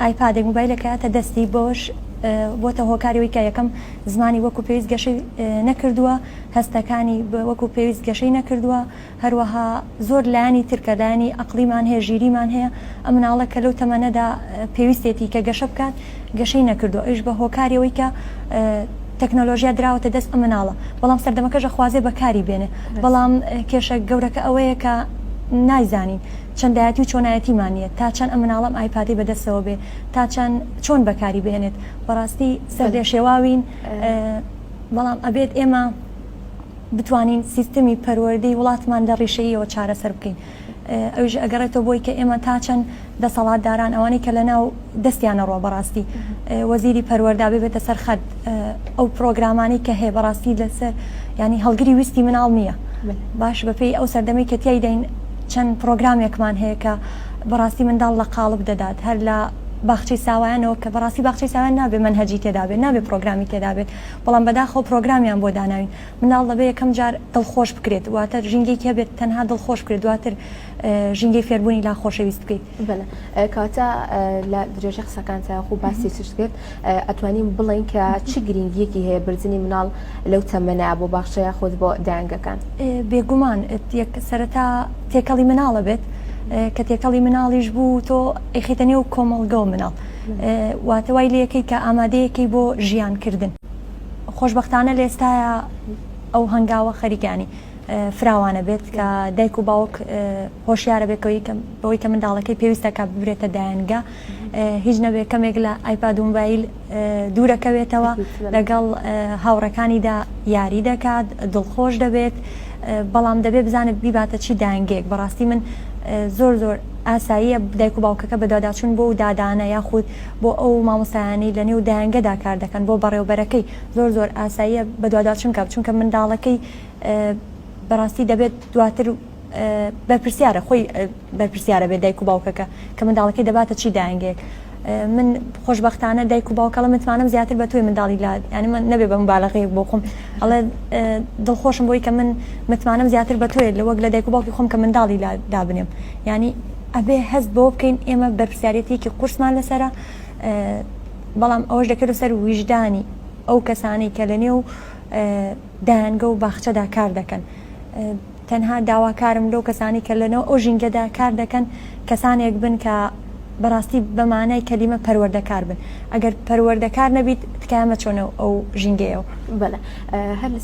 ئایپادێک، مۆبایلێک کەیاتە دەستی، بەوەش بۆتە هۆکاری ئەوەی کە یەکەم زمانی وەکو پێویست گەشەی نەکردووە، هەستەکانی وەکو پێویست گەشەی نەکردووە، هەروەها زۆر لایەنی تر کە لایەنی ئەقڵیمان هەیە، ژیریمان هەیە، ئەم مناڵە کە لەو تەمەنەدا پێویستێتی کە گەشە بکات گەشەی نەکردووە، ئەویش بە هۆکاری ئەوەی کە تەکنەلۆژیا دراوەتە دەست ئەم مناڵە، بەڵام سەردەمەکەش ئەخوازێ بەکاری بێنێ، بەڵام کێشە گەورەکە ئەوەیە کە نایزانین. چەندایەتی و چۆنایەتیمان نیە تا چەند ئەم مناڵە ئەم ئایپادەی بەدەستەوە بێ تا چەند چۆن بەکاری بهێنێت بەڕاستی سەر لێ شێواوین بەڵام ئەبێت ئێمە بتوانین سیستمی پەروەردەی وڵاتمان لە ڕیشەیەوە چارەسەر بکەین ئەویش ئەگەڕێتەوە بۆی کە ئێمە تا چەند دەسەڵاتداران ئەوانەی کە لە ناو دەستیان ئەڕوا بەڕاستی وەزیری پەروەردا ببێتە سەر خەت ئەو پرۆگرامانی کە هەیە بەڕاستی لەسەر ینی هەڵگری ویستی مناڵ نییە باش بەپی ئەو سەردەمی کە تیایدەین چەند پرۆگرامێکمان هەیە کە بەڕاستی منداڵ لە قاڵب دەدات هەر لە باخچەی ساوایانەوە کە بەڕاستی باخچەی ساوان نابێ من هەجی تێدابێت نابێ پرۆگرامی تێدابێت بەڵام بەداخەوە پرۆگرامیان بۆ داناوین مناڵ دەبێ یەکەم جار دڵخۆش بکرێت واتە ژینگەی کە بێت تەنها دڵخۆش بکرێت دواتر ژینگەی فێربوونی لا خۆشەویست بکەیت بەلێ کەواتە لە درێژەی قسەکانتا وەکو باسی چشت کرد ئەتوانین بڵێین کە چ گرنگیەکی هەیە بردنی مناڵ لەو تەمەنە بۆ باخچە یاخود بۆ دایەنگەکان؟ بێگومان سەرەتا تێکەڵی مناڵە بێت کە تێکەڵی مناڵیش بوو تۆ ئەیخیتە نێو کۆمەڵگەو مناڵ واتە وای لەکەی کە ئامادەیەکەی بۆ ژیان کردن خۆشببختانە لە ئێستاە ئەو هەنگاوە خەریکانی فراوانە بێت کە دایک و باوک هۆشیارە بێت بەوەی کە منداڵەکەی پێویستە کە ببرێتە دایانگە هیچ نەبێت کەمێک لە ئایپاد و موبایل دوورەکەوێتەوە لەگەڵ هاوڕەکانیدا یاری دەکات دڵخۆش دەبێت بەڵام دەبێت بزانێت بیباتە چی دایانگەیەک بەڕاستی من زۆر زۆر ئاساییە دایک و باوکەکە بەدواداچون بۆ و دادانە یاخود بۆ ئەو مامۆسایانی لە نێو دایانگەدا کار دەکەن بۆ بەڕێوبەرەکەی زۆر زۆر ئاساییە بەدواداچون کە بچونکە منداڵەکەی بەڕاستی دەبێت دواتر بەرپرسیارە خۆی بەرپرسیارە بێت دایک و باوکەکە کە منداڵەکەی دەباتە چی داینگێک من خۆشببختانە دایک و باوکەڵە متمانم زیاتر بە تۆی منداڵی لا ینی من نەبێ بە مبالغەیەک بۆ خۆم ئەڵێ دڵخۆشم بۆی کە من متمانم زیاتر بە تۆیە لە وەک لە دایک و باوکی خۆم کە منداڵی لا دابنێم ینی ئەبێ هەست بۆ بکەین ئێمە بەرپسیارەتێکی قورسمان لەسرە بەڵام ئەوەش دەکرێت سەر ویژدانی ئەو کەسانی کە لە نێو دایەنگە و باخچەدا کار دەکەن تەنها داواکارم لەو کەسانی کە لەنەو ئەو ژینگەدا کار دەکەن کەسانێک بن کە بەڕاستی بەمانای کەلیمە پەروەردەکار بن ئەگەر پەروەردەکار نەبیت تکایە مەچۆنە ئەو ژینگەیەوە. بەلە هەر.